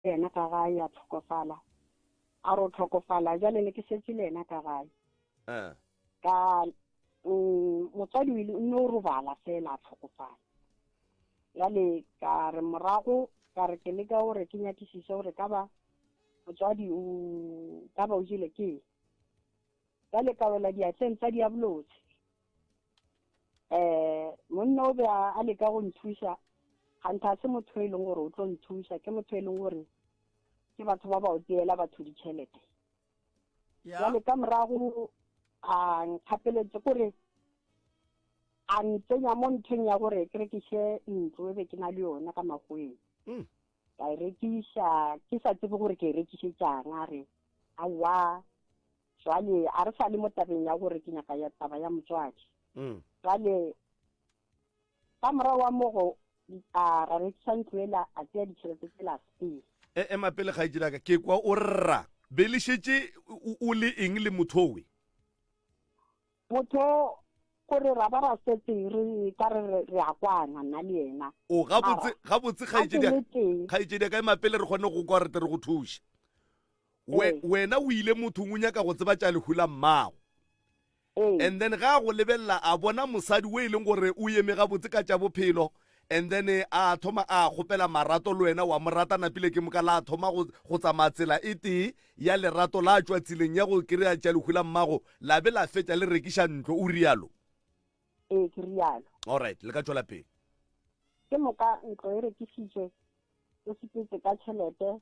yena ka gae a tlhokofala a ro tlhokofala jale ne ke setse le yena ka gae eh. ka mm, motswadi o ile o no robala fela a tlhokofala jale ka re morago ka re ke leka gore ke nyakisise gore ka ba motswadi o ka ba o jele ke jale ka wela diatleng tsa diabolotse um monna o be a leka go nthuša gantha se motho e leng gore o tlo nthuša ke motho e leng gore ke batho ba ba o tseela batho ditšhelete jale ka morago a nkgapeletse kore a ntsenya mo nthong ya gore ke rekiše ntlo e be ke na le yona ka magoeng mm. ka e rekiša ke sa tsebe gore ke e rekišetšang a re aowa Jwale a re sa le mo tabeng ya gore ke nyaka ya taba ya motswadi. Mm. Jwale ka morago wa mogo a ra rekisa ntlo ela a tseya ditšhelete tse la stay. E ema pele ga itse daka ke kwa o rra be le šetše o le eng le mothowe. Motho gore ra ba ra setse re ka re re- re a kwana nna le yena. O gabotse, Mara, gabotse ga ke kgaetšedi ya le ka. tee. Kgaetšedi ya ka, ema pele re kgone go kwa gore tle re go thuše. We, Ee. wena o ile mothong o nyaka go tseba tša lehu la mmago. Ee. And then ga a go lebelela a bona mosadi o e leng gore o eme gabotse ka tša bophelo. And then a thoma a kgopela marato le wena wa mo rata napile ke moka la thoma go, go tsamaya tsela e tee ya lerato la tšwa tseleng ya go kry-a tša lehu la mmago la be la fetša le rekiša ntlo, o rialo? Ee, ke rialo. Alright, le ka tšwela pele. Ke moka ntlo e rekišitšwe, o sepetse ka tšhelete,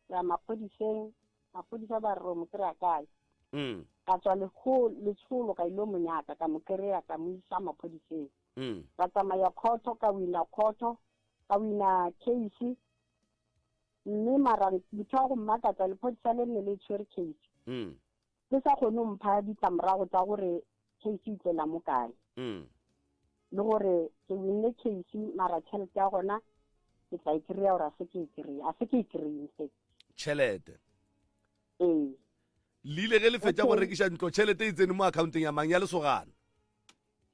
ya maphodiseng, maphodisa ba re o mo kry-a kae? Mm. Ka tswa lekgo letsholo ka ile mo nyaka ka mo kry-a ka mo isa maphodiseng. Mm. Ka tsamaya khotho ka wina khotho, ka wina case Mme mara motho wa go mmakatsa lephodisa le nne le tshwere case. Le sa kgone go mpha ditlamorago tsa gore case e tlela mo kae. Le gore ke winne case mara tšhelete ya gona ke tla e kry-a gore a se ke e kry-a. A se ke e kry-e in fact. Tšhelete. Ee. Le ile ge le fetša go rekiša ntlo tšhelete e tsene mo accounteng ya mang? Ya lesogana?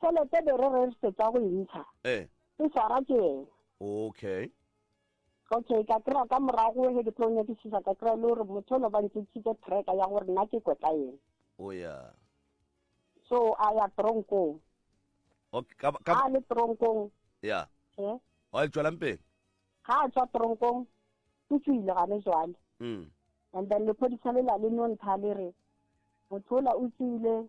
Tšhelete be re regisetsa go e ntsha, Eh. e swara ke yena. Okay. Okay, ka kry-a ka morago he ke tlo nyakisisa ka kry-a le gore motho ono ba ntšitšhitse tracker ya gore nna ke kwe ka ena. O ya. So a ya tronkong. Okay, ka, ka, Ha a le tronkong, ya. eh, O a tšwelang pele. ha a tswa tronkong, o tswile gane jwale. Mm. And then lephodisa le la le nontha le re, motho ola o tswile,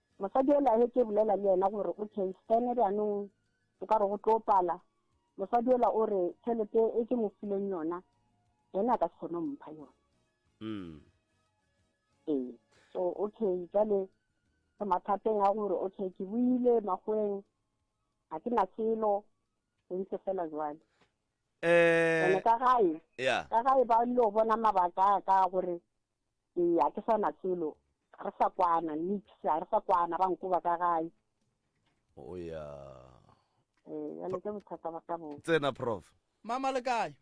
Mosadi yola a hetše bolela le yena gore o Kheistene, bjanong o ka re go tlo pala, mosadi yola o re tšhelete e ke mo fileng yona, yena a ka se kgone go mpha yona. Mm. Ee, so okay, jale re mathateng a gore okay, ke buile magoeng, ga ke na selo, re ntse fela jwale. Eh. Ene ka gae, yeah. ka gae ba ile go bona mabaka a ka gore Ee, a ke sa na selo. Ga re sa kwana, nix, ga re sa kwana, ba nkoba ka gae. O ya. Ee, bjale ke bothata ba ka bo. Tsena, Prof. Mama le kae?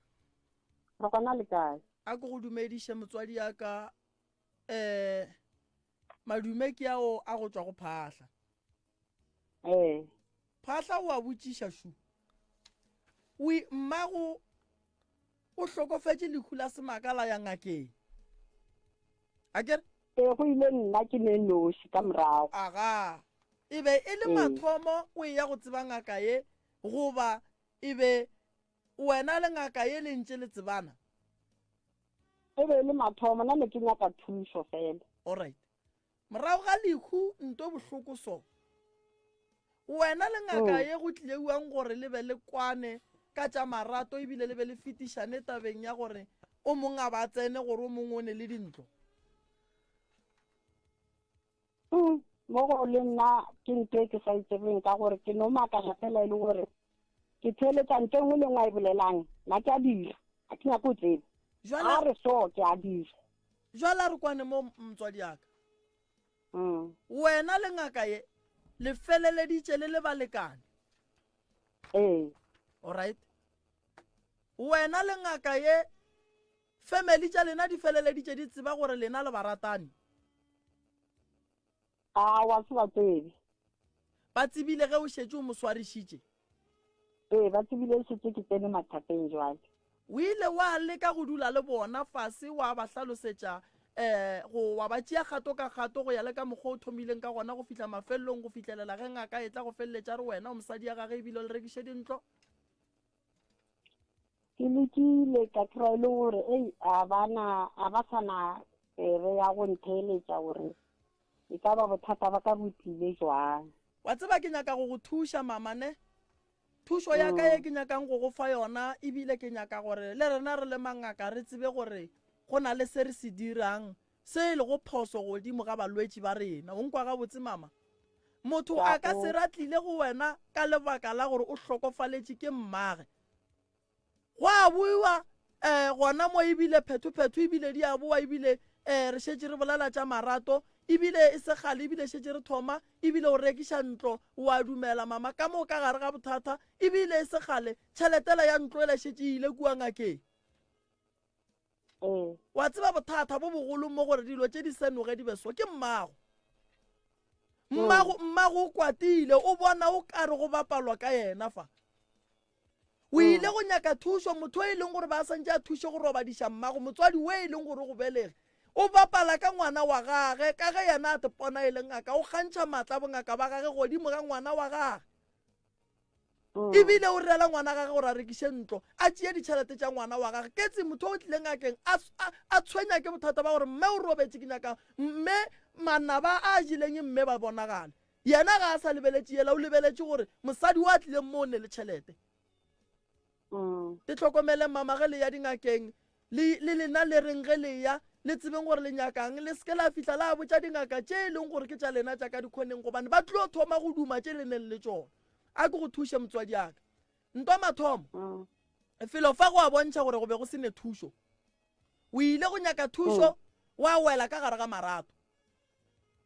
Re gona le kae? A ke go dumediše motswadi ya ka, eh, madume ke ao a go tšwa go phahla. ee phahla o a botšiša šu o mmago o hlokofetše lehu la semaka la ya ngakeng a kere ee go ile nna ke ne noši ka morago aga e be e le mathomo o e ya go tseba ngaka ye goba e be wena le ngaka ye le ntše le tsebana e be e le mathomo nna ne ke nyaka thušo fela allright Morago ga lehu nto bohloko so. Wena le ngaka oh. ye go tlileuang gore le be le kwane ka tša marato ebile le be le fetišane tabeng ya gore o mong a ba tsene gore o mongwe o ne le dintlo. Mm, mo go le nna ke nto e ke sa itsebeng e ka gore ke no makala fela e le gore ke theletsa nto e nngwe le nngwe a e bolelang nna ke a dira ga ke nyako tsebe a re so ke a dira Jwale a re kwane mo mtswadi yaka. Mm. Wena le ngaka ye le feleleditše le le balekane. Ee. Alright. Wena le ngaka ye family tša lena di feleleditše di tseba gore lena le baratani. A wa se ba tsebe? Ba tsebile ge o šetše o mo swarišitše? Ee, ba tsebile e šetše ke tsene mathateng bjale. O ile wa leka go dula le bona fase wa ba hlalosetša, ee, go, wa ba tšea kgato ka kgato go ya le ka mokgwa o thomileng ka gona go fihla mafelelong, go fihlelela ge ngaka e tla go feleletša a re wena o mosadi ya gagwe e bile o le rekiše dintlo? ke lekile ka kry e le gore ei a bana a ba sa na tsebe ya go ntheeletša gore e ka ba bothata ba ka botlile jwang wa tseba ke nyaka go go thuša mama ne thušo ya ka ye mm. ke nyakang go go fa yona ebile ke nyaka gore le rena re le mangaka re tsebe gore go na le se re se dirang Se e lego phoso godimo ga balwetši ba rena. O nkwa gabotse, Mama? Motho a ka se ra tlile go wena ka lebaka la gore o hlokofaletše ke mmage. Go a boiwa um gona mo ebile phethophetho ebile di a boa ebile um re šetše re bolela tša marato ebile e segale ebile šetše re thoma ebile o rekiša ntlo o a dumela mama ka moo ka gare ga bothata ebile e segale tšheletela ya ntlo e la šetše e ile kua ngakeng Wa tseba bothata bo bogolo mo gore dilo tše di se noge di be so ke mmago. Mmago, mmago o kwatile, o bona o kare go bapalwa ka yena fa. O ile go nyaka thušo, motho o e leng gore ba santše a thuše go robadiša mmago, motswadi we e leng gore go belege, o bapala ka ngwana wa gage, ka ge yena a tepona e le ngaka, o kgantšha maatla a bongaka ba gage godimo ga ngwana wa gage. Mm. ebile o rela ngwana gage gore a rekiše ntlo a tšee ditšhelete tša ngwana wa gage ketse motho o tlileng akeng a tshwenya ke bothata ba gore mme o robetse ke nyaka mme manaba a jeleng mme ba bonagale yena ga a sa lebeletše yela o lebeletše gore mosadi o a tlileng mo o ne le tšhelete Le hlokomeleng mama ge le ya dingakeng, le, le lena le reng ge le ya, le tsebeng gore le nyaka'ng. Le se ke la fihla la botša dingaka tše e leng gore ke tša lena tša ka dikhoneng, gobane ba tlo thoma go duma tše le neng le tšona. A ke go thuše, motswadi'aka. Ntwa mathomo, felo fa go a bontšha gore go be go se ne thušo. O ile go nyaka thušo, wa wela ka gare ga marato.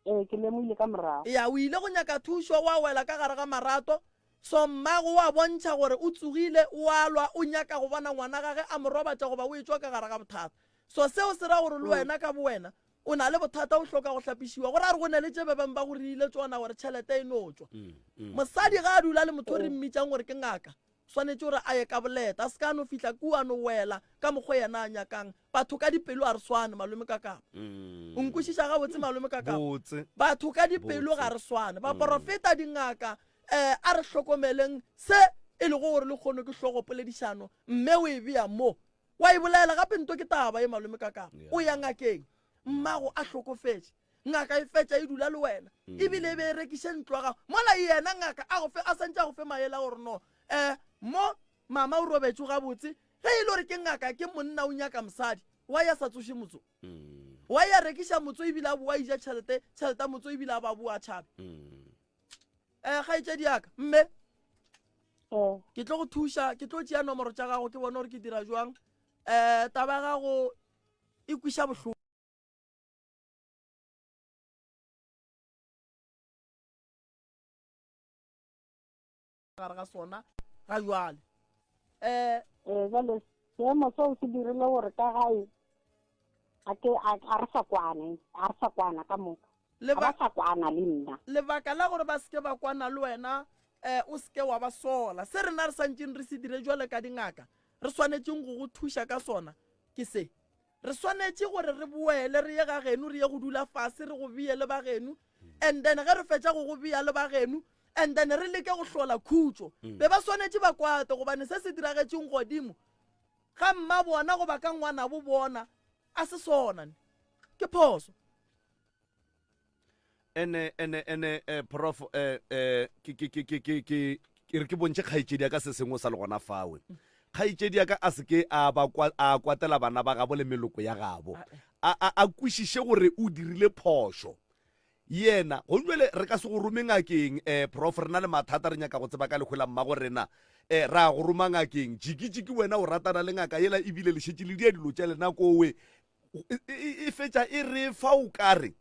Ee, ke lemoile ka morago. Ya, o ile go nyaka thušo, wa wela ka gare ga marato. So mmago wa bontšha gore o tsogile, o a lwa, o nyaka go bona ngwana gage a mo robatša goba o etšwa ka gare ga bothata. So seo se ra gore le wena ka bowena o na le bothata, o hloka go hlapišiwa. Go ra gore go ne le tše ba beng ba go reile tšona gore tšhelete e no tšwa. Mosadi ge a dula le motho o re mmitšang gore ke ngaka, Swanetše gore a ye ka boleta, a se ka a no fihla kua a no wela ka mokgwa yena a nyakang. Batho ka dipelo ga re swane, Malome Kakapa. O nkwešiša gabotse, Malome Kakapa? Batho ka dipelo ga re swane. Baporofeta, dingaka, um a re hlokomeleng se e lego gore lekgono ke hlogopoledišano, mme o e bea mo. Wa e bolaela gape nto ke taba ye, Malome Kakapa. O ya ngakeng, mmago a hlokofetše. Ngaka e fetša e dula le wena e bile e be e rekiše ntlo ya gago mola yena ngaka a go fe a santše a go fe maele a gore no eh mo mama o robetšwe gabotse ge e le gore ke ngaka ke monna o nyaka mosadi wa ya sa tsoše motso wa ya rekiša motso e bile a boa ija tšhelete tšhelete ya motso e bile a ba boa tšhabe um kgaetšedi yaka mme oh. ke tlo go thuša ke tlo tšea nomoro tša gago ke bone gore ke dira jwang um taba ya gago e kwiša bohloko gare ga sona ga jwale um ee jale seemo seo se dirile gore ka gae a re sa kwane a re sa kwana ka moka ba sa kwana le nna lebaka la gore ba seke ba kwana le wena um o seke wa ba sola se rena re santseng re se dire jwale ka dingaka re swanetseng go go thuša ka sona ke se Re swanetše gore re boele re ye ga genu, re ye go dula fase, re go beye le ba genu. And then ge re fetša go go beya le ba genu, and then re leke go hlola khutšo. Be ba swanetše ba kwate, gobane se se diragetšeng godimo ga mmabona goba ka ngwanabo bona a se sona ne. Ke phoso. ene ene ene eh, prof eh, eh, ke ke- ke- ke- ke- ke- ke re ke bontšhe kgaetšedi ya ka se sengwe sa le gona fawe kgaetšedi ya ka a seke a ba kwa- a kwatela bana ba gabo le meloko ya gabo a a- a kwešiše gore o dirile phošo yena go jale re ka se go rome ngakeng um prof re na le mathata re nyaka go tseba ka lekgwela mmago rena um ra go roma ngakeng jikijiki wena o ratana le ngaka yela ebile le šetše le dia dilo tša lena kowe e fetša e re fa o ka re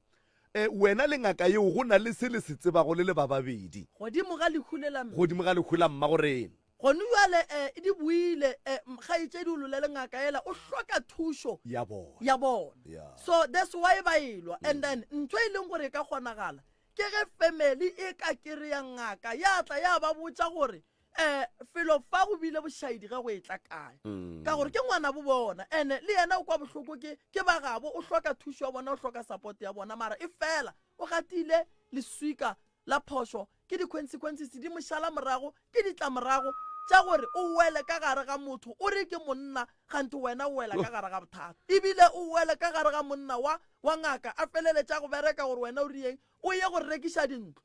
um wena le ngaka yeo go na le se le se tsebago le le ba babedi godimo ga lehu le la godimo ga lehu la mmagorena gone jale um e di boile um kgaetšedi o lolele ngaka ela o hloka thušo ya bona ya bona so that's why ba elwa and mm. then ntho e leng gore e ka kgonagala ke ge family e ka kry-a ngaka ya tla ya ba botša gore um felo fa go bile bošaedi ge go e tla kae ka gore ke ngwana bo bona ene le yena o kwa bohloko ke ke ba gabo o hloka thušo ya bona o hloka support ya bona mara e fela o gatile leswika la phošo ke di-consequences di mošala morago ke ditlamorago tša gore o wele ka gare ga motho o re ke monna gante wena o wela ka gare ga bothata ebile o wele ka gare ga monna wa wa ngaka a feleletša go bereka gore wena o riyeng o ye go rekiša dintlo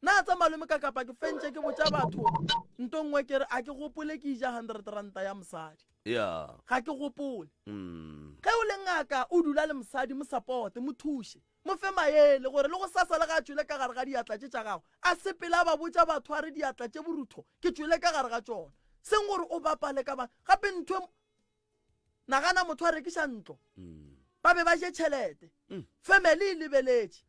Na tsa malome ka kapa ke fentše ke botša batho nto nngwe ke re a ke gopole ke ija hundred ranta ya mosadi ya ga ke gopole mm. ge o le ngaka o dula le mosadi mo sapote mo thuše mo fe maele gore le go sasa le ga a tšwele ka gare ga diatla tše tša gago a se pele a ba botša batho a re diatla tše borutho ke tšwele ka gare ga tšona seng gore o bapale ka ba gape ntho Nagana motho a rekiša ntlo. Ba be ba je tšhelete. Family e lebeletše.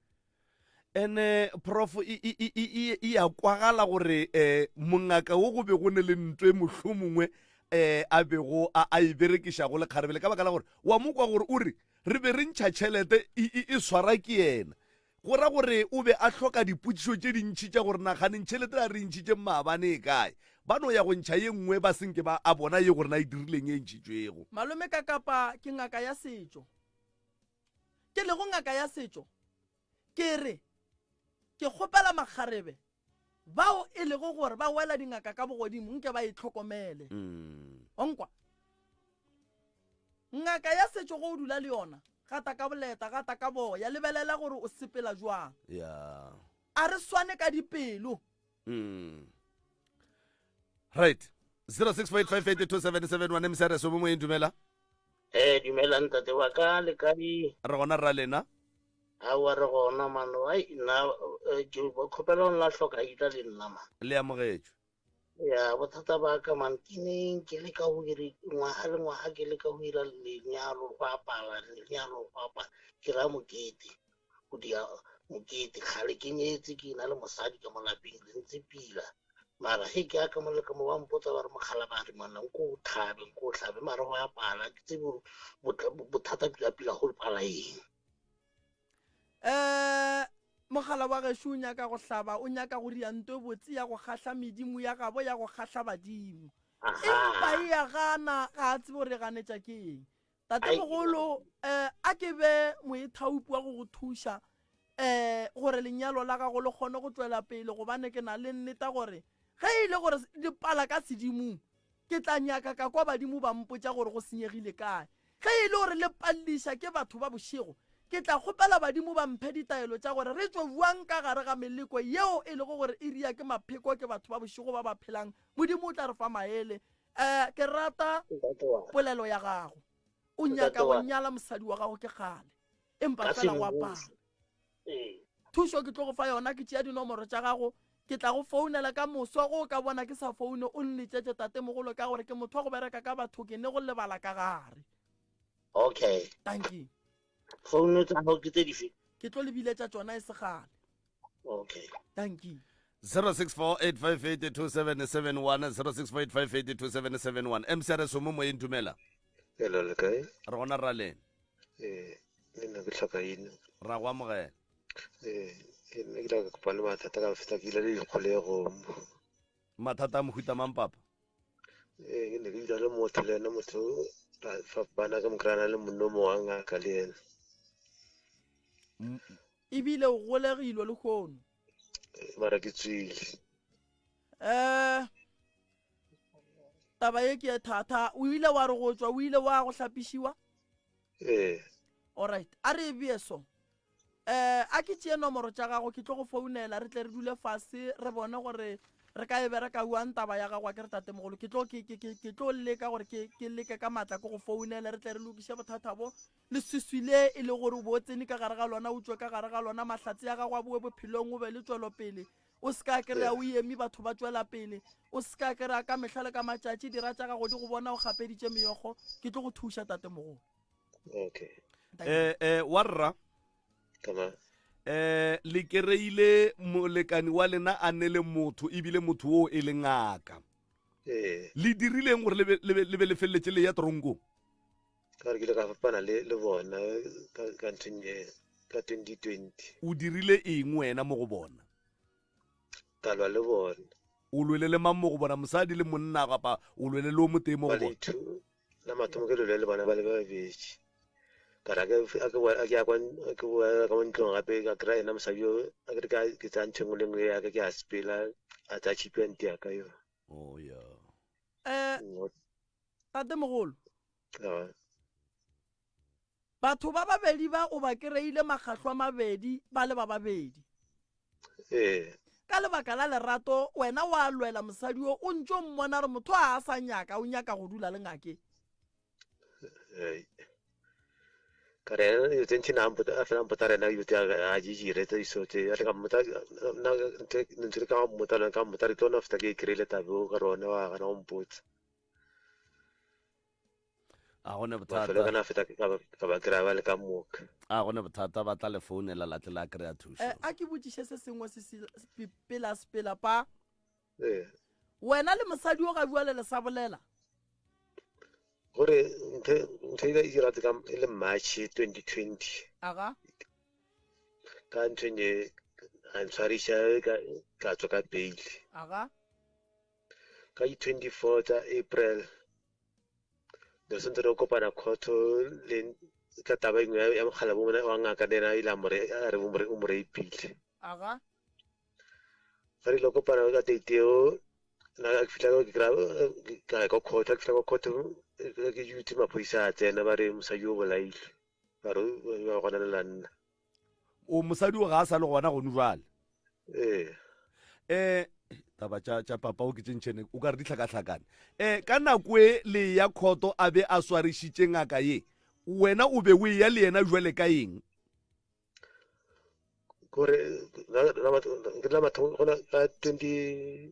Ene prof e, e, e, e, e, e ya kwagala gore um mongaka wo go be go ne le ntwe e mohlomongwe um a bego a, a e berekiša go lekgarebele ka baka la gore wa mo kwa gore o re re be re ntšha tšhelete e, e, e swara ke yena Go ra gore o be a hloka dipotšišo tše dintši tša gore, Naganeng, tšhelete la re e ntšhitšeng maabane e kae? Ba no ya go ntšha ye nngwe ba se nke ba a bona ye gore na e dirileng e ntšhitšwego. Malome ka kapa ke ngaka ya setšo. Ke lego ngaka ya setšo, ke re, Ke kgopela makgarebe bao e lego gore ba wela dingaka ka bogodimo nke ba e tlhokomele mm. onkwa ngaka ya setšo go o dula le yona gata ka boleta gata ka boya lebelela gore o sepela jwang yeah. a re swane ka dipelo mm. right 0658582771 msrs o bo moeng dumela eh dumela ntate wa ka le kae re gona rra lena Aowa re gona man ai nna Joe kgopela o nna hloka ita le nna man. Le amogetšwe. Ya bothata ba ka man ke neng ke leka go iri ngwaga le ngwaga ke leka go ira lenyalo go apala lenyalo go apa ke ra mokete go dia mokete kgale ke nyetse ke na le mosadi ka mo lapeng re ntse pila mara he ke aka mo le ka mo ba mpotsa ba re mogala ba re monna nko o tlhabe nko o tlhabe mara go apala ke tsebe bothata pila pila go pala eng um mogala wa gešo o nyaka go hlaba o nyaka go ria nto e botse ya go kgahla medimo ya gabo ya go kgahla badimo empa e ya gana ga a tsebe gore e ganetša ke eng tatemogolo um eh, a ke be moethaupi wa go go thuša um gore lenyalo la gago le kgone go tswela pele gobane ke na le nneta gore ge e le gore dipala ka sedimong Ke tla nyaka ka kwa badimo ba mpotša gore go senyegile kae. Ge e le gore le palliša ke batho ba bošego, ke tla kgopela badimo ba mphe ditaelo tša gore re tšwe bjang ka gare ga meleko yeo e lego gore e ria ke mapheko ke batho ba bošego ba ba phelang. Modimo o tla re fa maele. Ee, ke rata polelo ya gago. O nyaka go nyala mosadi wa gago ke kgale, empa fela o apara. Ee. Thušo ke tlo go fa yona, ke tšea dinomoro tša gago, ke tla go founela ka moso ge o ka bona ke sa foune, o nletšetše tatemogolo ka gore ke motho wa go bereka ka batho, ke ne go lebala ka gare. Okay. Dankie. Founu tsa gago ke tse dife? Ke tlo le biletša tšona e se kgale. Okay. Dankie. 0648582771 0648582771 mcrs o mo moyeng dumela Hello, le kae? re gona rraleng ee le nna ke tlhoka eno ra go amogela ee ke nna ke tla ka kopane mathata ka feta ke ile le dikgolego mathata a mohuta mang papa ee ke ne ke dula le motho le ena motho fapana ke mokrana le monno mo wa ngaka le ena ebile o golegilwe le kgono mara ke tswile um taba ye ke ye thata o ile wa re go tswa o ile wa go hlapišiwa ee alright a re e bee so um a ke tšee nomoro tša gago ke tlo go founela re tle re dule fase re bone gore re ka e bereka uang taba ya gago a ke re tatemogolo ke tlo ke- ke- ke- ke tlo leka gore ke ke leke ka maatla ke go founele re tle re lokiše bothata bo le swiswi le e le gore o bo o tsene ka gare ga lona o tswe ka gare ga lona mahlatse ya gago a boe bophelong o be le tswelopele O se ka kry-a o eme batho ba tšwela pele. O se ka kry-a ka mehla le ka matšatši dira tša gago di go bona o kgapeditše meyogo. Ke tlo go thuša tatemogolo. Okay. Eh, eh, warra eh le kereile molekani wa lena a ne le motho ebile motho oo e le ngaka ee. le dirileng gore le be le feleletse le ya tronkong ka gore ke ile ka fapana le, le bona ka, ka nthong e ka 2020 O dirile eng wena mo go bona? ka lwa le bona O lwele le mang mo go bona? Mosadi le monna kapa o lwele le o motee mo go ba bona? lethu la mathomo ke lole le bona ba le babedi ka ra ke a ke boa- a ke ya kwa n- a ke boela ka mo ntlong gape ka kry ena mosadi yo a ke re ke a- ke tsaya ntho e nngwe le nngwe ya ka ke a sepela a tsaya chipi ya nte ya ka yo Oh, yeah. Eh, Ngo- Tatemogolo, batho ba babedi ba o ba kereile makgahlo a mabedi ba le ba babedi. Ka lebaka la lerato wena wa lwela mosadi o o ntšo mmona re motho a a sa nyaka o nyaka go dula le ngake. ka re ena dilo tse ntšhi na a fela mpota rena dilo tse a di dire tse iso tse a ka mmota nna ntse ka mmota le ka mmota re tlo na feta ke e kry-ile tabe o ka rone wa gana go mpotsa a gone mafelo kana feta ka ba kry ba le ka moka a gone bothata ba tla le founela la tle la kry-a thuso eh, a ke botšiše se sengwe se pela sepela pa eh. wena le mosadi o ga bua le le sa bolela gore ntho e ka dira ka e le march 2020 aga ka ntho e ne a ntshwariša ka tswa ka bail aga ka di 24 tša april nelson tsere o kopana khotho le ka taba engwe ya mokgala bo wa ngaka le yena ile a re o mo reipile aga ge re ile kopana ka date eo na ke fihla ke kra ka ya ka khotho ke fihla ka khotho ke jutse maphodisa a tsena ba re mosadi o bolailwe a re ba gona le la nna o mosadi o ga a sa le gona gone jale ee eh taba tša tša papa o ke tše ntšhene o ka re ditlhakatlhakane eh ka nako e le ya khoto a be a swarišitše ngaka ye wena o be o eya le yena jwale ka eng kore la batho gona ka 20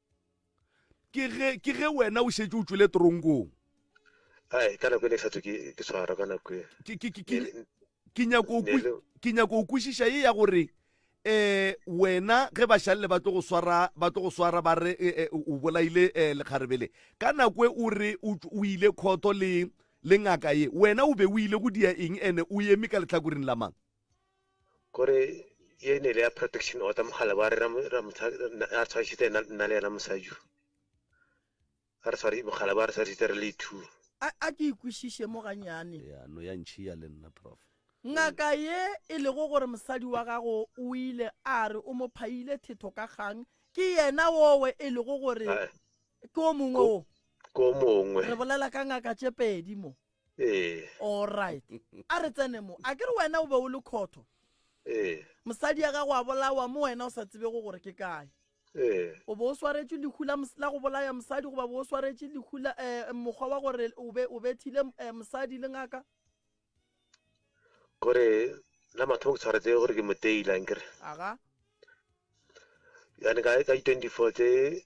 ke ge ke ge wena o šetše o tšwele toronkong ai ka nako e ne ke sa tswe ke- ke tshwarwa ka nako e ke ke- ke- ke- ke nyako o kwe- Nele- ke nyako o kwešiša ye ya gore eh wena ge bašalele ba tlo go swara ba tlo go swara ba re eh, eh, o bolaile eh, lekgarebele ka nako e o re o tš- o ile khotho le le ngaka ye wena o be o ile go dia eng ene o eme ka lehlakoreng la mang gore ye ne le ya protection order mogala ba re ra re tshwarišitse nna le yena mosaju a re tshwari mogala ba re tshwarišitse re le two a ke ikwešiše mo ganyane ya no ya ntšhiya le nna prof ngaka ye e lego gore mosadi wa gago o ile a re o mo phaile thetho ka kgang ke yena wowe e lego gore ke o mongwe o ke o mongwe re bolela ka ngaka tše pedi mo ee Alright. A re tsene mo. A ke re wena o be o le khotho. ee Mosadi ya gago a bolawa mo wena o sa tsebego gore ke kae. ee O be o swaretše lehu la, mos- la go bolaya mosadi goba be o swaretše lehu la eh, mokgwa wa gore o be o bethile eh, mosadi le ngaka? gore la mathomo ke tshwaretse gore ke moteila nkere Aga. yane ka ka di 24 tse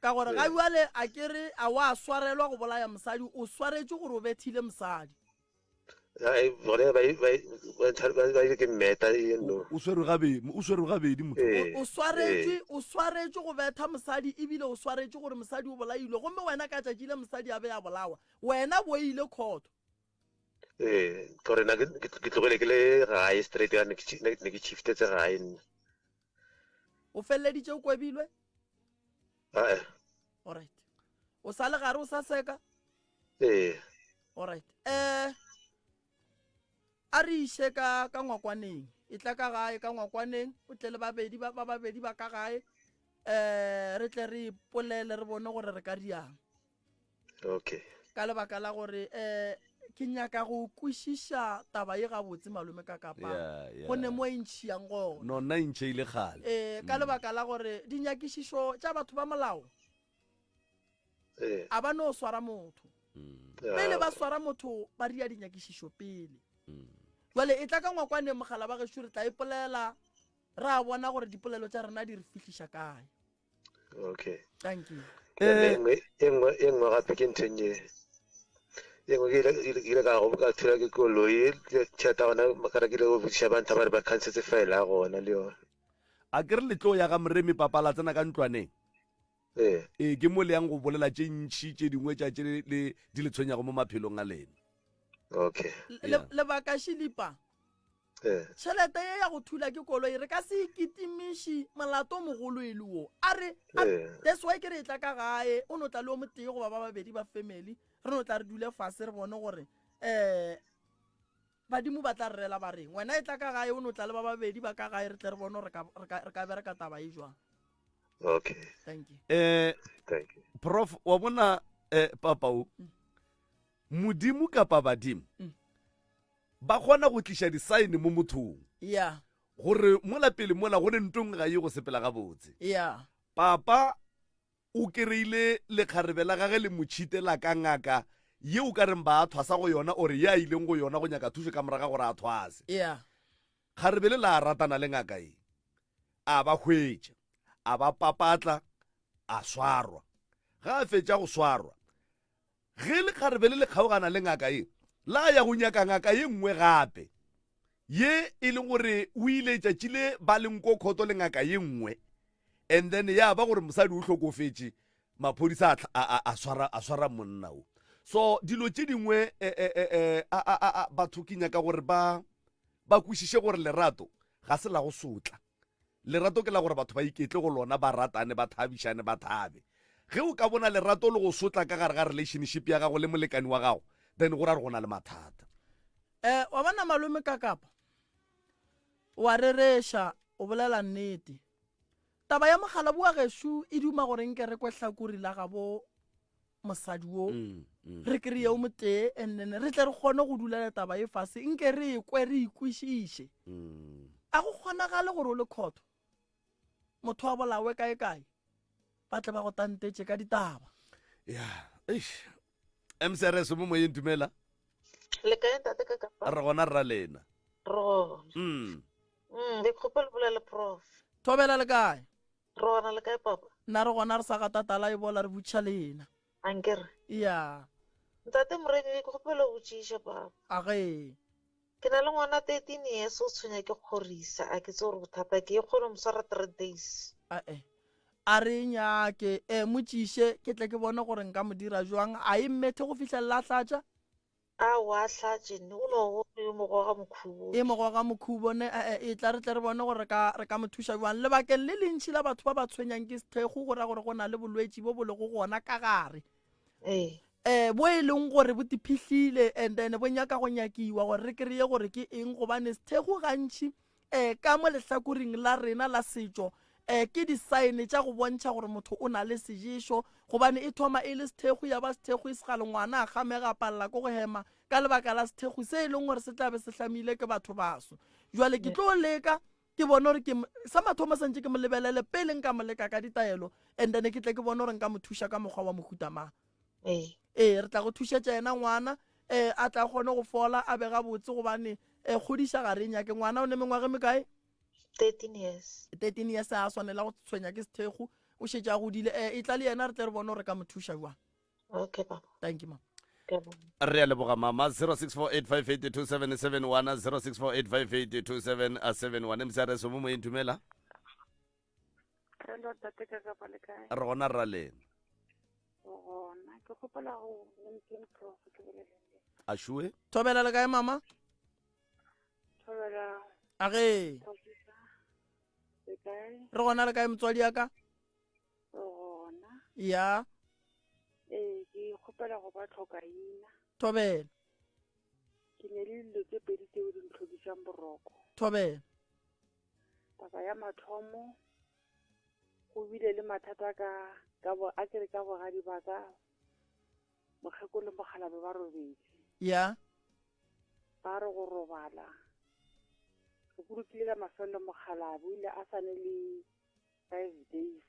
Ka gore ga bjale a ke re a wa swarelwa go bolaya mosadi, o swaretše gore o bethile mosadi. O swerwe gabedi, o swerwe gabedi motho. O swaretše, o swaretše go betha mosadi ebile o swaretše gore mosadi o bolailwe. Gomme wena ka tšatši le mosadi a be a bolawa, wena bo ile khotho. Ee, gore na ke tlogele ke le gae straight, ne ke shiftetse gae nna. o feleleditše o kwebilwe ae alright o sa le gare o sa seka ee alright eh a re iše ka ka ngwakwaneng e tla ka gae ka ngwakwaneng o tle le babedi ba babedi ba ka gae eh re tle re ipolele re bone gore re ka riang Okay. Ka lebaka la gore eh ke nyaka go kwišiša taba ye gabotse malome ka kapa yeah, yeah. go ne mo e ntšhiyang gona no nna e ntšheile gale e ka mm. lebaka la gore dinyakišišo tša batho ba molao a ba no swara motho mm. pele ba swara motho ba ria dinyakišišo pele mm. jale e tla ka ngwakwane mogala ba gešo re tla ipolela e ra bona gore dipolelo tša rena di re fihliša kae okay thank you eh, e nngwe gape ke ntheng e e nngwe ke ile ka go ka thula ke koloi tšhata gona makara ke ile go botsiša ba ntha ba re ba khansetse file ya gona le yone a ke re letlo ya ga moremi papala tsena ka ntlwaneng ee ee ke mo le yang go bolela tše ntšhi tše dingwe tša tše le di le tshwenyago mo maphelong a lena okay lebaka šilipa Tšhelete ye ya go thula ke koloi re ka se e kitimiši, molato o mogolo e le wo. A re, a, that's why ke re e tla ka gae, o no tla le o motee goba ba babedi ba family, re no tla re dule fase re bone gore um badimo ba tla re rela ba reng. Wena e tla ka gae, o no tla le ba babedi ba ka gae re tle re bone gore re ka bereka taba e jwang. Okay. Thank you. Eh, Thank you. Prof, wa bona eh, papa o, Modimo kapa badimo ba kgona go tliša disaene mo mothong ya gore mola pele mola go ne ntong ga ye go sepela gabotse. ya Papa o kereile lekgarebe la gage le motšhite la ka ngaka ye o ka reng ba a thwasa go yona ore ye a ileng go yona go nyaka thušo ka moraga gore a thwase. ya Kgarebe le la ratana le ngaka ye. A ba hwetša, a ba papatla, a swarwa. Ga a fetša go swarwa, Ge lekgarebe le le kgaogana le ngaka ye, la ya go nyaka ngaka ye nngwe gape, ye e le gore o ile tšatši le ba le nkokgoto le ngaka ye nngwe, and then ya ba gore mosadi o hlokofetše, maphodisa a tla, a, a, a swara, a swara monna o. So, dilo tše dingwe, e, e, e, e, a, a, a, a, batho ke nyaka gore ba, ba kwešiše gore lerato ga se la go sotla. Lerato ke la gore batho ba iketle go lona, ba ratane, ba thabišane, ba thabe. Ge o ka bona lerato le go sotla ka gare ga relationship ya gago le molekani wa gago, then go ra gore go na le mathata. Eh, wa bona malome Kakapa, o a rereša, o bolela nnete. Taba ya mogalabu wa gešo e duma gore nke re kwe hlakuri la gabo mosadi wo mm, mm. re kry-e o motee and then re tle re kgone go dulela taba e fase nke re e kwe re ikwešiše mm. a go kgonagale gore o le kgotho motho wa bolawe kae kae ba tle ba go tantetše ka ditaba ya eish msrs mo moyeng dumela le kae ntate ka kapa re gona rra lena ro mm mm le khopela bolela prof thobela le kae Re gona le kae papa? Na re gona re sa ga tatala e bola re butša le yena. Ankere? Ya. Ntate Moremi ke kgopelo botšiša papa. A ge. Ke na le ngwana 13 years o tshwenya ke kgorisa a ke tse gore bothata ke e kgone mo swara 3 days. Ae. A re e nyake e mo tšiše ke tle ke bone gore nka mo dira jwang a e mmethe go fihlelela a hlatša. Aowa, Sergeant, ne go no go yo mogwa ga Mokhubo. E mogwa ga Mokhubo ne, e, e, etla re tle re bone gore re ka, re ka mo thuša bjang. Lebakeng le lentši la batho ba ba tshwenyang ke sethekgu go ra gore go na le bolwetši bo bo lego gona ka gare, Ee. e, bo e leng gore bo tiphihlile and then bo nyaka go nyakiwa gore re kreye gore ke eng gobane sethekgu gantši um ka mo lehlakoring la rena la setšo um ke disaene tša go bontšha gore motho o na le seješo gobane e thoma e le sethekgwi ya ba sethekgwi se ga lengwana a kgamega a palela ko go hema ka lebaka la sethekgwi se e leng gore se tlabe se hlamile ke batho baso jale ke tlo leka ke bone gore ke sa mathomo sa ntse ke mo lebelele pele nka mo leka ka ditaelo and then ke tle ke bone gore nka mo thuša ka mokgwa wa mohuta mang ee ee re tla go thušetša yena ngwana um a tla kgone go fola a bega botse gobane um kgodiša ga re nyake ngwana o ne mengwage mekae thirteen years thirteen years a swanela go tshwenya ke sethekgo o šetše a godile um e tla le yena re tle re bone gore ka mo thuša jwang okay baba thank you mama re a leboga mama 0648582771 0648582771 msrs o mo moyeng dumela Hello, tate ka kapa le kae? re gona rra lena Gona, ke kgopela go LinkedIn Pro go ke bolele. a šoe thobela le kae mama Thobela, a ge Thobisa, le kae? re gona le kae motswadi ya ka Gona, ya ee, ke kgopela go ba tlhokaina. thobela Ke ne le dilo tse pedi tseo di ntlhodisang boroko. thobela Taba ya mathomo, go bile le mathata ka, ka bo, a kere ka bogadi ba ka, mokgekolo le mokgalabje ba robedi. Ya. Ba re go robala, re bolokile ka mafelelo mokgalabje o ile a sa ne le five days,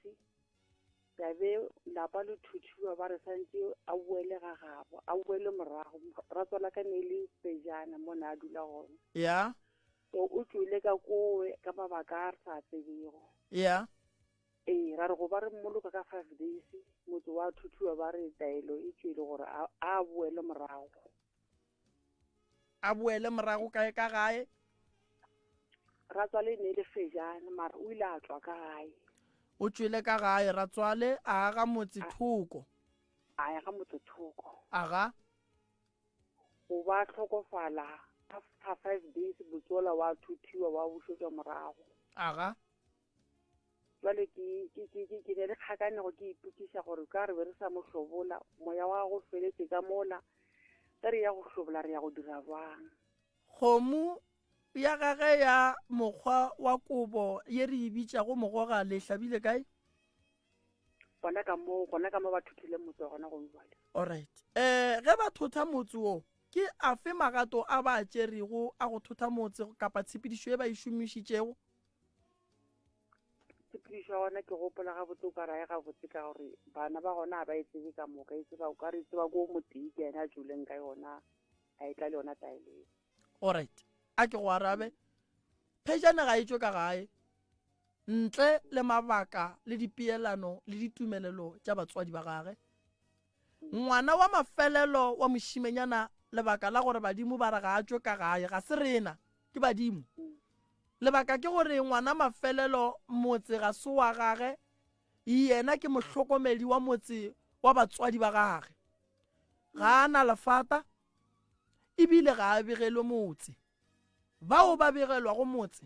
ya be lapa le thuthiwa ba re santse a boele ga gabo, a boele morago, moratswa la ka ne le Pejana mo ne a dula gona. Ya. To o tšwele ka kowe ka mabaka a re sa a tsebego. Ya. Ee, ra re go ba re mmoloka ka five days, motse wa thuthuwa ba re taelo e tšwele gore a, a boele morago. A boele morago kae ka gae? Ratswale e ne e le Fejane, mara o ile a tswa ka gae. O tšwele ka gae, ratswale a aga motse thoko. A aga motse thoko. Aga. go ba hlokofala after five days botsola wa thuthiwa wa bušetšwa morago aga jwale ke ke ke ke ke ne le kgakanego ke ipokiša gore ka re be re sa mo hlobola moya wa go feletse ka mola ge re ya go hlobola re ya go dira bjang kgomo ya gage ya mokgwa wa kobo ye re e bitšago mogoga le hlabile kae gona ka moo gona ka moo ba thothile motse gona go jwale alright eh ge ba thotha motse wo ke a fe magato a ba a tšerego a go thotha motse kapa tshepedišo e ba e šomišitšego tshepedišo ya gona ke gopola gabotse o ka raye gabotse ka gore bana ba gona ga ba e tsebe ka moka e tseba o ka re e tseba ko motee ke ene a tšoleng ka yona a e tla le yona taeleng Orit, a ke go arabe, phejana ga e tšwe ka gae, ntle le mabaka le dipeelano le ditumelelo tša batswadi ba gage. Ngwana wa mafelelo wa mošimenyana, lebaka la gore badimo ba re ga a tšwe ka gae, ga se rena, ke badimo. Lebaka ke gore ngwana mafelelo, motse ga se wa gage, yena ke mohlokomedi wa motse wa batswadi ba gage. Ga a na lefata, e bile ga a begelwe motse. Bao ba begelwago motse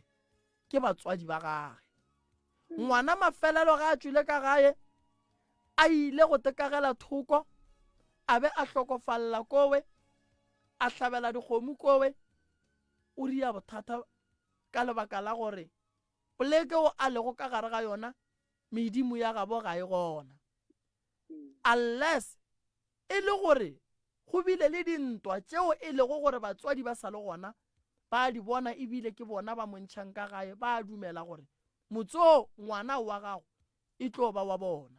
ke batswadi ba gage. Ngwana mafelelo ge a tšwile ka gae, a ile go tekagela thoko, a be a hlokofalela kowe, a hlabela dikgomo kowe, o ria bothata ka lebaka la gore poleke o a lego ka gare ga yona medimo ya gabo ga e gona. Unless e le gore go bile le dintwa tšeo e lego gore batswadi ba sa le gona ba a di bona e bile ke bona ba mo ntšhang ka gae, ba a dumela gore motse o ngwana wa gago e tlo ba wa bona.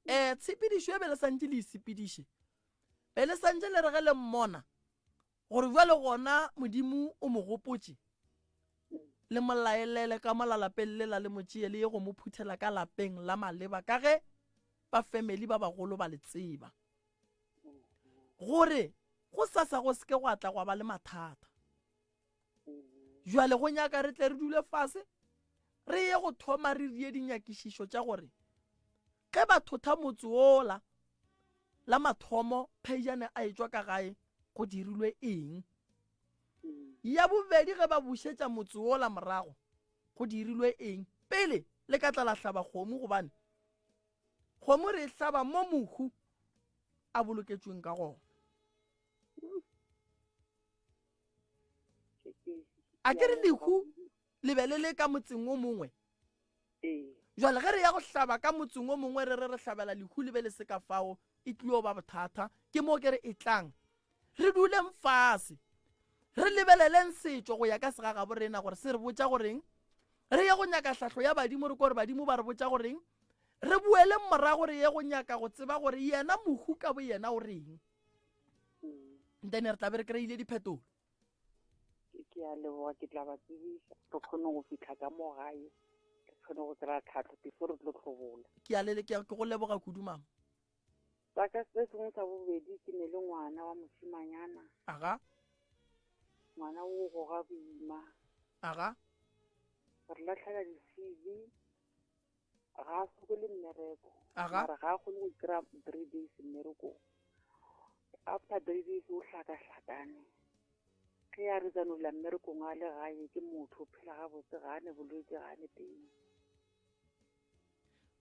Um tshepedišo e be le santše le e sepediše, be le santše le re ge le mmona Gore bjale gona Modimo o mo gopotše, le mo laelele ka mola lapeng lela le mo tšee le ye go mo phuthela ka lapeng la maleba ka ge ba family ba bagolo ba le tseba. Gore go sasa go seke gwa tla gwa ba le mathata. Bjale go nyaka re tle re dule fase re ye go thoma re rie dinyakišišo tša gore Ge ba thotha motse wola, la mathomo Pheijane a etšwa ka gae go dirilwe eng? Ya bobedi ge ba bušetša motse wola morago, go dirilwe eng? Pele le ka tla la hlaba kgomo gobane kgomo re e hlaba mo mohu a boloketšweng ka gona. A ke re lehu le be le le ka motseng o mongwe ee jale ge re ya go hlaba ka motseng o mongwe re re re hlabela lehu le be le se ka fao e tlio ba bothata ke moo ke re e tlang re duleng fase re lebeleleng setšo go ya ka segagabo rena gore se re botša goreng re ye go nyaka hlahlo ya badimo re ko gore badimo ba re botša goreng re boeleng morago re ye go nyaka go tseba gore yena mohu ka bo yena o reng mm. then re tla be re kry-ile diphetolo ke a leboga ke tla ba tsebisa re kgone go fitlha ka mo gae ke kgone go kry-a tlhatlho before re tlo tlhobola ke a lele ke a- ke go leboga kudu mama sa ka se sengwe sa bobedi ke ne le ngwana wa moshimanyana aga ngwana o goga boima aga re latlhela di-cv ga a sokole mmereko Aha. mara ga a kgone go kry-a three days mmerekong after three days o hlakahlakane ge ya re tsanola mmerekong a le gae ke motho o phela gabotse ga a ne bolwetse ga a ne teng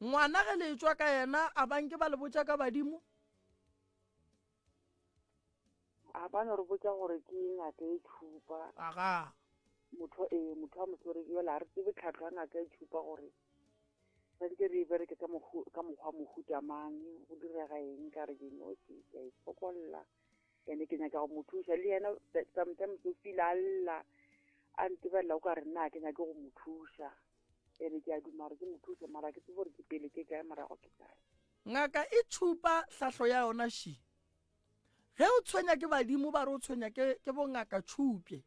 ngwana ge le tswa ka yena a banke ba le botša ka badimo A ba no re botša gore ke ngaka e tšhupa. Aga. Motho e motho a mo swere yola a re tsebe tlhatlo ya ngaka e tšhupa gore santse re e bereke ka mohu ka mokgwa mohuta mang go direga eng ka re ke nosi ka e fokolla ene ke nyaka go mo thuša le yena sometimes o feel a lla a ntebelela o ka re nna ke nyake go mo thuša ene ke a duma gore ke mo thuše mara ke tsebe gore ke pele ke kae morago ke kae Ngaka e tšhupa hlahlo ya yona ši. Ge o tshwenya ke badimo ba re o tshwenya ke, ke bongaka tšhupje.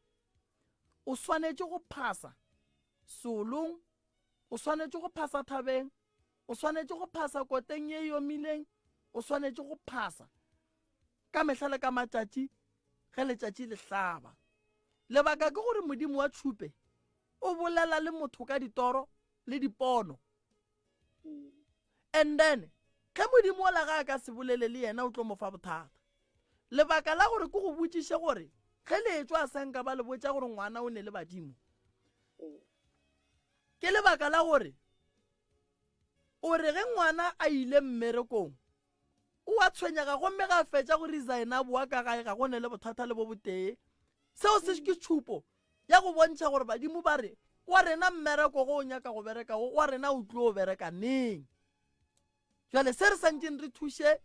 O swanetše go phasa seolong, o swanetše go phasa thabeng, o swanetše go phasa koteng ye e omileng, o swanetše go phasa ka mehla le ka matšatši ge letšatši le hlaba. Lebaka ke gore modimo wa tšhupe o bolela le motho ka ditoro le dipono And then, ge Modimo o la ga a ka se bolele le yena o tlo mo fa bothata. Lebaka la gore ke go botšiše gore ge le etšwa a sa nka ba le botša gore ngwana o ne le badimo, ke lebaka la gore o re ge ngwana a ile mmerekong O a tshwenyega gomme ge a fetša go resigna a bowa ka gae ga go ne le bothata le bo botee. Seo se ke tšhupo ya go bontšha gore badimo ba re, Wa rena mmereko go o nyaka go bereka wo, wa rena o tlo o bereka neng? Bjale se re santšeng re thuše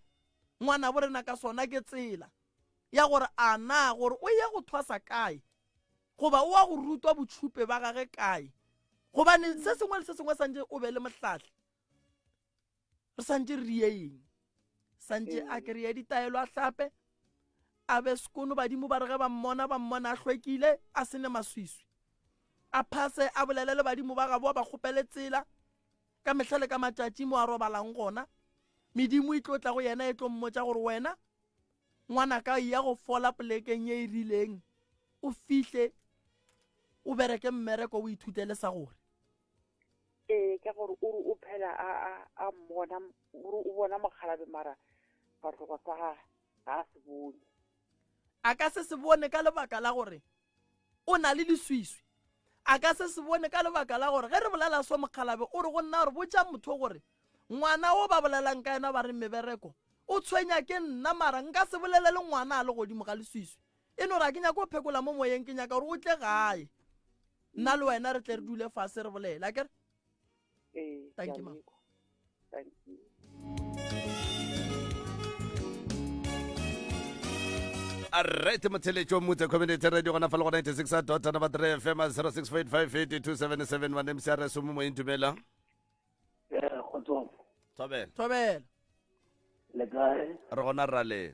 ngwanabo rena ka sona ke tsela ya gore a na gore o ye go thwasa kae goba o a go rutwa botšhupe ba gage kae. Gobane se sengwe le se sengwe santše o be le mohlahli re santse re rieeng santse a mm. kry-e ditaelo a hlape a be sekono badimo ba re ge ba mmona ba mmona a hlwekile a sene maswiswi a phase a bolele le badimo ba gaboa ba kgopele tsela ka mehla le ka matšatši mo a robalang gona medimo e tlo tla go yena e tlo mmotsa gore wena ngwana ka ya go fola polekeng e e rileng o fihle o bereke mmereko o ithutele sa gore ee ka gore o re o phela a a a mmona o re o bona mokgalabe mara sefahlego sa ga ga a se bone a ka se se bone ka lebaka la gore o na le leswiswi a ka se se bone ka lebaka la gore ge re bolela so mokgalabe o re go nna gore botša motho gore ngwana o ba bolelang ka yena ba re mebereko o tshwenya ke nna mara nka se bolele le ngwana a le godimo ga leswiswi E no re, A ke nyake go phekola mo moyeng, ke nyaka gore o tle gae, nna le wena re tle re dule fase re bolele. A ke re? Ee, Thank you, Mama. Thank you. right motheletšo motse community radio gona fa le go 96 dot number 3 fm 06458277 wa nemse a re somo moyeng dumela Eh, kgotsong. thobela Thobela. Le kae? re gona rra lena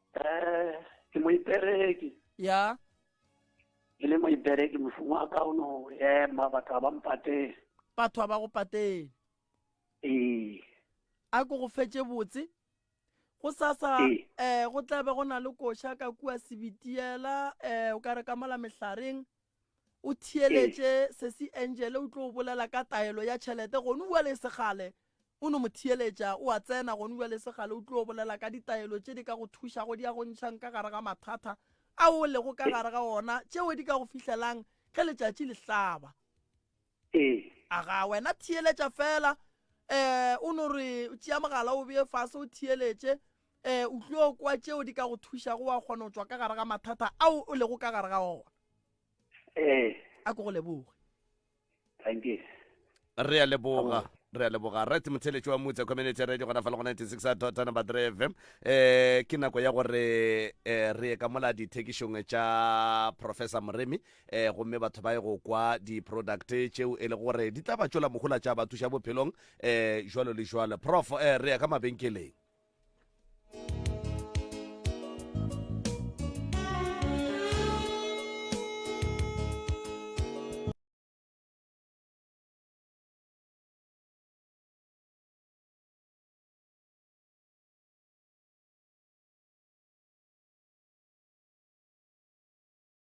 Eh, ke moipereki. Ya. Ke le moipereki mošomo wa ka o no ema batho ba mpateng. Batho ba go pateng. Ee. A ko go fetše botse. go sasa eh go tlabe go na le koša ka kua sebitiela eh o ka re ka mola mehlareng o theeletše sesi Angele o tlo o bolela ka taelo ya tšhelete gone ua le segale o no mo theeletša o a tsena gone ua le segale o tlo o bolela ka ditaelo tše di ka go thušago di ya go ntšhang ka gare ga mathata ao o lego ka gare ga ona tšeo di ka go fihlelang ge letšatši le hlaba Ee. Agaa, wena theeletša feela. Um, o no re, tšea mogala o bee fase o theeletše. Um, o tlio kwa tšeo di ka go thušago wa kgona go tšwa ka gare ga mathata ao o lego ka gare ga ona. Ee. A ko go leboge. Thank you. Re a leboga re a leboga right motheletši wa mutse community radio gona fa le go 96 tota number 3 fm um ke nako ya gore um re ye ka mola dithekišong tša professor moremi um gomme batho ba ye go kwa di-product tšeo e le gore di tla ba tšwela mogola tša ba thuša bophelong um jalo le jalo prof um re ya ka mabenkeleng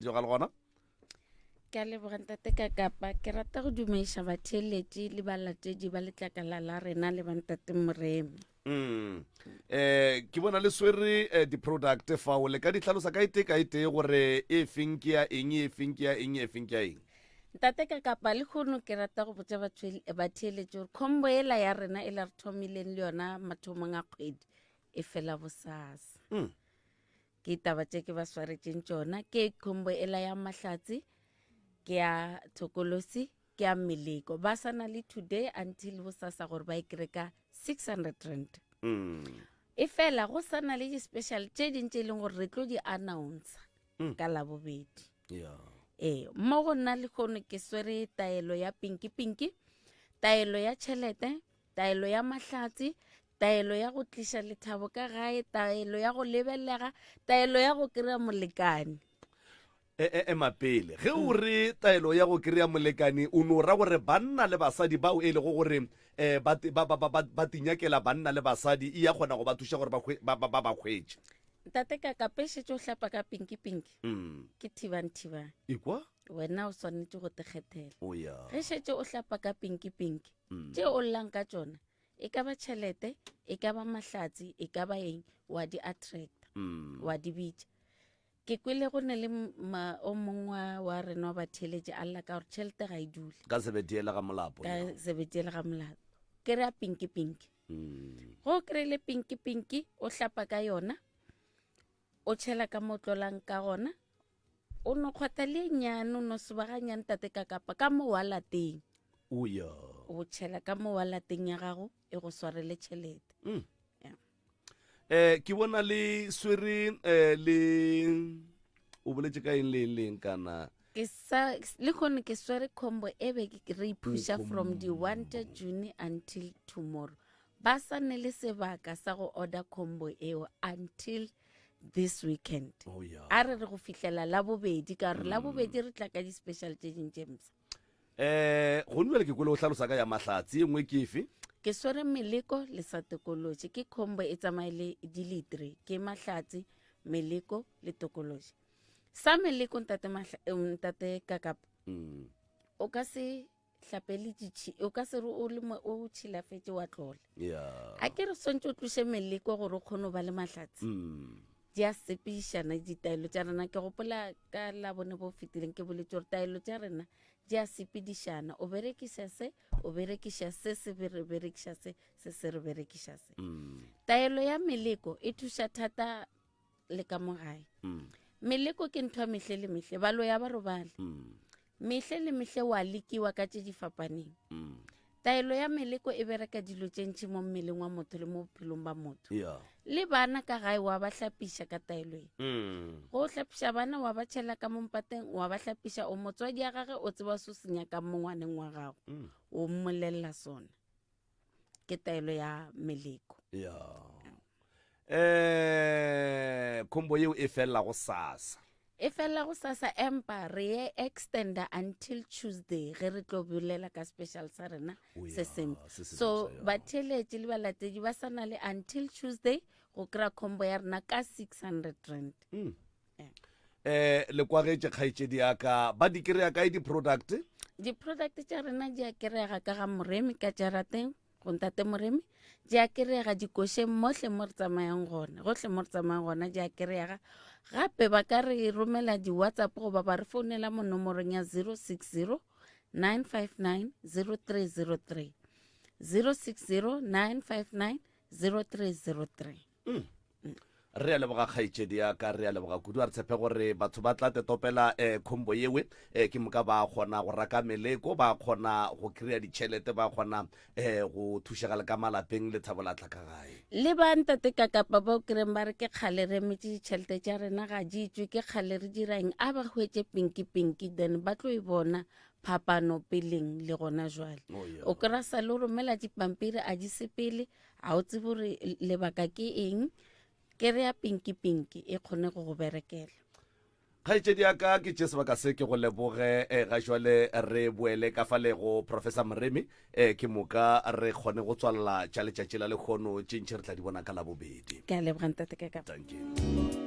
joga le gona ke a leboga ntate ka kapa ke rata go dumediša batheeletši le balatedi ba letlakala la rena le bantate moreme mm. eh ke bona le swere eh, di-product fao le ka di tlhalosa ka ete ka ete gore e feng ke ya eng e feng ke ya eng e feng ke ya eng ntate ka kapa le kgono ke rata go botsa batheeletši gore khombo ela ya rena e la re thomileng le yona mathomong a kgwedi e fela bosasa mm. ke taba tše ke ba swaretšeng tšona ke khombo e la ya mahlatsi ke ya thokolosi ke ya meleko ba sa na le today until go sasa gore ba e kry ka six hundred rand mm. e fela go sa na le di-special tše dintše e leng gore re tlo di announcer mm. ka labobedi yeah. ee mo go nna le kgono ke swere taelo ya pinki pinki taelo ya tšhelete taelo ya mahlatse taelo ya go tliša lethabo ka gae taelo ya go lebelega taelo ya go kry-a molekane e, e, ema pele ge o re taelo ya go kry-a molekane o no ra gore banna le basadi bao e lego gore um ba tinyakela banna le basadi e ya kgona go ba thuša gore ba ba kgwetše ntate ka kapešetše o hlapa ka pinki pinki mm. ke thibang thibang ikwa wena o swanetše go tekgethela ge šetše o hlapa ka pinki pinki tše o llang ka tšona e ka ba tšhelete e ka ba mahlatsi e ka ba eng wa di attracta mm. wa di bitša ke kwele go ne le o mongwe wa rena wa batheletše a lla ka gore tšhelete ga e dule ka sebetiele ga molapo ka sebetiele ga molapo ke re a pinki pinki mm. go kry-ile pinki pinki o hlapa ka yona o tšhela ka mo tlolang ka gona o no kgwata le nyane o no sebaganyane tate ka kapa ka mo wa lateng o ya o tšhela ka mo wa lateng ya gago e go swarele tšhelete mm. yeah. eh ke bona le swere eh le o boletse ka eng le eng le eng kana ke sa le gone ke swere combo e be re iphuša from the wanted june until tomorrow ba sa ne le sebaka sa go order combo eo until mm. this weekend oh, yeah. a re re go fihlela la bobedi ka gore mm. la bobedi re tla ka di-special tse ding tse msa eh go nne le ke kwele o tlhalosa ka ya mahlatsi e nngwe ke efe ke swere meleko le sa tokoloji ke combo e tsamaye le dilitre ke mahlatsi meleko le tokoloji sa meleko ntate eh, kakapa mm. o ka se hlapeleditši o ka se re o le mo o tšhilafetše wa tlola yeah a ke re swantse o tloše meleko gore o kgone go ba le mahlatse mm. di a sepišana ditaelo tša rena ke gopola ka labone bo fetileng ke boletse gore taelo tša rena di a sepedišana o berekiša se o berekiša se se be re berekiša se se se re berekiša se taelo ya meleko e thuša thata le ka mo gae mm. meleko ke ntho ya mehle le mehle balo ya ba robale mm. mehle le mehle wa lekiwa ka tše di fapaneng mm. taelo ya meleko e bereka dilo tše ntšhi mo mmeleng wa motho le mo bophelong ba motho yeah. le bana ka gae wa ba hlapiša ka taelo e mm. go hlapiša bana wa ba tšhela ka mompateng wa ba hlapiša o motswadi ya gage o tseba so senyakang mongwaneng wa gago mm. o mmolelela sona ke taelo ya meleko ya eh khombo yeo e felela go sasa e felela go sasa empa re ye extenda until tuesday ge re tlo bolela ka special sa rena O ya, se seng se se so botsa, ya. batheeletši le balatedi ba sa na le until tuesday go kry-a khombo ya rena ka 600 rand Mm. eh le kwagetše kgaetšedi ya ka ba di kry-a kae di-product di-product tša rena di a kry-ega ka ga moremi ka jarateng go ntate moremi di a kry-ega dikošeng mohle mo re tsamayang gona gohle mo re tsamayang gona di a kry-ega gape ba ka re romela di-whatsapp goba ba re founela mo nomorong ya 060 959 0303 060 959 0303 mm. re a leboga kgaetšedi ya ka re a leboga kudu a re tshepe gore batho ba tla tetopela um eh, khombo yewe um eh, ke moka ba kgona go raka meleko ba kgona go kry-a ditšhelete ba kgona um eh, go thušega le ka malapeng le thabo latla ka gae le ba ntate ka kapa ba o kereng ba re ke kgale re emetse ditšhelete tša rena ga di tswe ke kgale re dirang a ba hwetse pinki pinki then ba tlo e bona phapano peleng le gona jwale oh, o kry-a sa le o romela dipampiri a di sepele a o tsebe gore lebaka ke eng ke re ya pinki pinki e kgone go go berekela kgaetšedi ya ka ke tše sebaka se ke go leboge um ga jale re boele ka fa lego professor moremi um ke moka re kgone go tswalela tša letšatši la lekgono tše ntšhi re tla di bona ka labobedi ke a leboga ntate ka ka thank you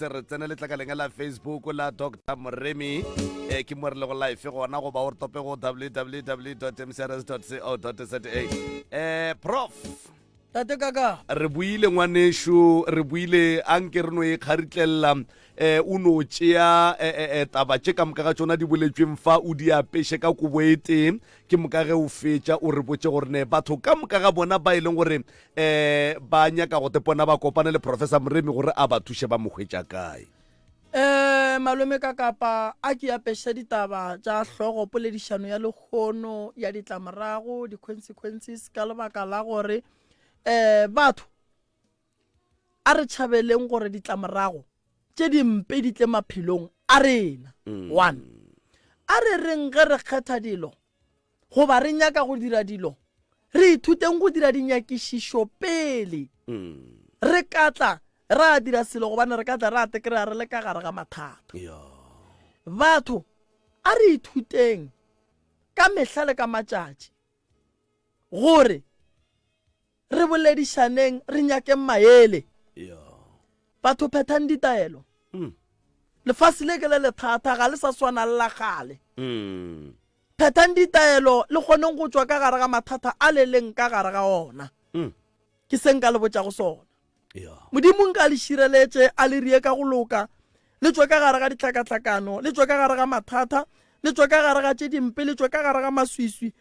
tse re tsene letlakaleng la facebook la dr moremi e ke mo re le go life gona goba o re tope go www mcrs co za um prof tate kaka re buile ngwanešu re buile a nke re no e kgaritlelela um o no tšea eh, eh, eh, taba tše ka moka ga tšona di boletsweng fa o di apeše ka kobo e tee ke moka ge o fetša o re botše gore ne batho ka moka ga bona ba e leng gore um ba nyaka go tepona ba kopane le professor moremi gore a ba thuše ba mo hwetša kae um malome ka kapa a ke apešitša ditaba tša hlogo poledišano ya lekgono ya ditlamorago di-consequences ka lebaka la gore um batho a re tšhabeleng gore ditlamorago tše dimpe di tle maphelong a rena mm. one a re reng ge re kgetha dilo goba re nyaka go dira dilo re ithuteng go dira dinyakišišo pele mm. re ka tla ra dira selo gobane re ka tla ra tekry-a re le ka gare ga mathata batho a re ithuteng ka mehla le ka matšatši gore Re boledišaneng, re nyakeng maele. Batho phethang ditaelo. Lefase le ke le lethata, ga le sa swana le la kgale. Phethang ditaelo le kgoneng go tšwa ka gare ga mathata a le leng ka gare ga ona. Ke se nka le botšago sona. Modimo nka le šireletše, a le rie ka go loka, le tšwe ka gare ga dihlakahlakano, le tšwe ka gare ga mathata, le tšwe ka gare ga tše dimpe, le tšwe ka gare ga maswiswi,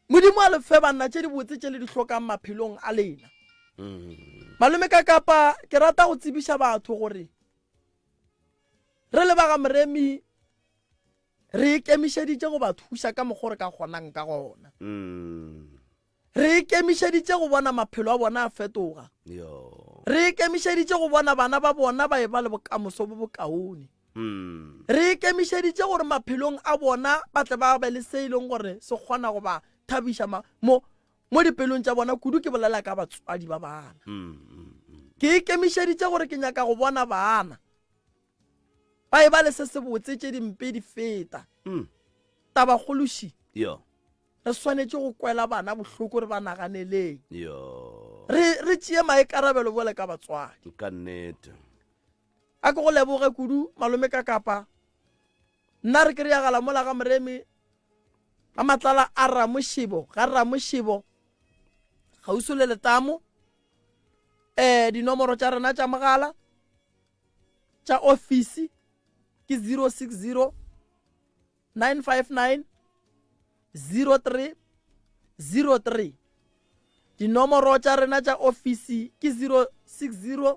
Modimo a le fe banna tše dibotse tše le di hlokang maphelong a lena. Malome ka kapa ke rata go tsebiša batho gore re le ba ga Moremi re ikemišeditše go ba thuša ka mokgwa o re ka kgonang ka gona. Re ikemišeditše go bona maphelo a bona a fetoga. Re ikemišeditše go bona bana ba bona ba e ba le bokamoso bo bokaone. Re ikemišeditše gore maphelong a bona ba tle ba be le se e leng gore se kgona go ba thabiša mo mo dipelong tša bona, kudu ke bolela ka batswadi ba bana. Ke ikemišeditše gore ke nyaka go bona bana ba e ba le se se botse tše dimpe di feta tabakgološi re swanetše go kwela bana bohloko re ba naganeleng re tšee maikarabelo bjale ka batswadi ka nnete A ke go leboge kudu malome ka kapa. Nna re kry-agala mola ga moremi ga matlala a ramošebo ga ramošebo gauso le letamo um eh, dinomoro tša rena tša mogala tša ofisi ke 060 959 03 03 dinomoro tša rena tša ofisi ke 060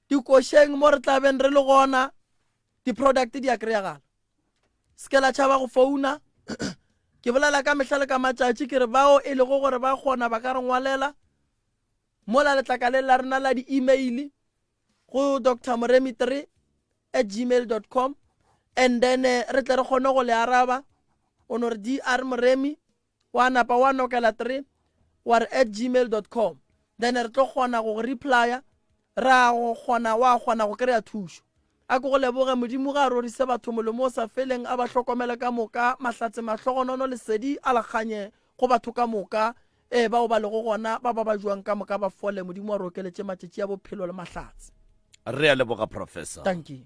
dikošeng mo re tla beng re le gona di-product di a kry-agala se ke la tšhaba go founa ke bolela ka mehla le ka matšatši ke re bao e lego gore ba kgona ba ka re ngwalela mola letlakaleng la rena la di-email go dr moremi 3 at gmail dot com and then eh, re tle re kgone go le araba o no re dr moremi wa napa wa nokela three wa re at gmail dot com then re tlo kgona go go replya ra go kgona wa kgona go kry-a thušo a ko go leboge modimo ga a rorise batho molemo o sa feleng a ba hlokomele ka moka mahlatse mahlogonono lesedi a la kganye go batho ka moka ee bao ba lego gona ba ba ba jwang ka moka ba fole modimo wa re okeletše matšatši a bophelo le mahlatse re a leboga professor thank you